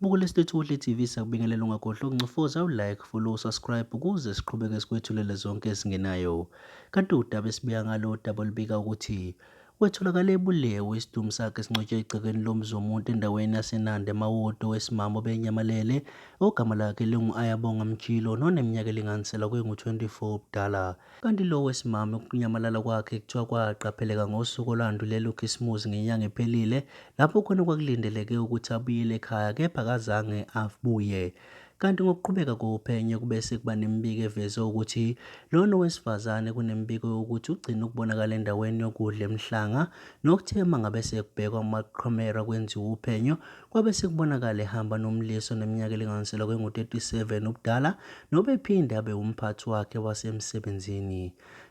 Bukela iSithuthuli TV sakubingelela ungakhohlwa ukuncofoza u-like, follow, subscribe ukuze siqhubeke sikwethulele zonke ezingenayo. Kanti udaba esibika ngalo udaba olubika ukuthi wetholakale ebulewe isidumbu sakhe sincotshwe egcekeni lomzi womuntu endaweni yaseNanda eMawoti owesimama obenyamalele ogama lakhe lingu-Ayabonga Mjilo noneminyaka elinganisela kwengu-24 ubudala. Kanti lo wesimame ukunyamalala kwakhe kuthiwa kwaqapheleka ngosuku olwandulela uKhisimuzi ngenyanga ephelile lapho khona kwakulindeleke ukuthi abuyele ekhaya kepha kazange abuye. Kanti ngokuqhubeka kophenyo kube sekuba nemibiko eveze ukuthi lona owesifazane kunemibiko yokuthi ugcine ukubonakala endaweni yokudla emhlanga nokuthe mangabe sekubhekwa amaqhamera kwenziwa uphenyo Kwabe sekubonakala ehamba nomlisa oneminyaka elinganiselwa kwengu-37 ubudala nobephinde abe umphathi wakhe wasemsebenzini.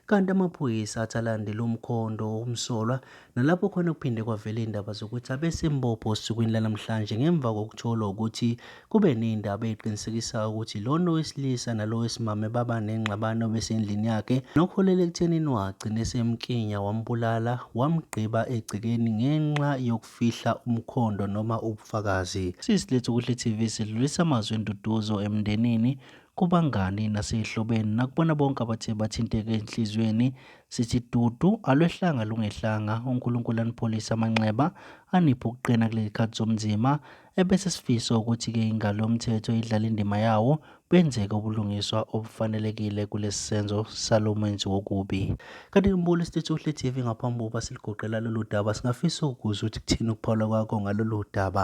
Kanti amaphoyisa athi alandele umkhondo womsolwa nalapho khona kuphinde kwavela iy'ndaba zokuthi abesembopho osukwini lanamhlanje ngemva kokutholwa ukuthi kube ney'ndaba ey'qinisekisayo ukuthi lona owesilisa nalo wesimame baba nengxabano besendlini yakhe nokuholela ekuthenini wagcina esemkinya wambulala wamgqiba egcekeni ngenxa yokufa fihla umkhondo noma ubufakazi. Sisi lethu Kuhle TV sidlulisa amazwi enduduzo emndenini, kubangani nasezihlobeni nakubona bonke abathe bathinteka ezinhliziyweni. Sithi dudu alwehlanga lungehlanga, uNkulunkulu anipholise amanxeba, aniphe ukuqina kulezikhathi zobunzima. Ebese sifisa ukuthi-ke ingalo mthetho idlale indima yawo, benzeke ubulungiswa obufanelekile kulesi senzo salo menzi wokubi. Kanti ngibula isitethu uhle TV ngaphambi kokuba siligoqela lolu daba, singafisa ukukuza ukuthi kuthini ukuphawula kwakho ngalolu daba.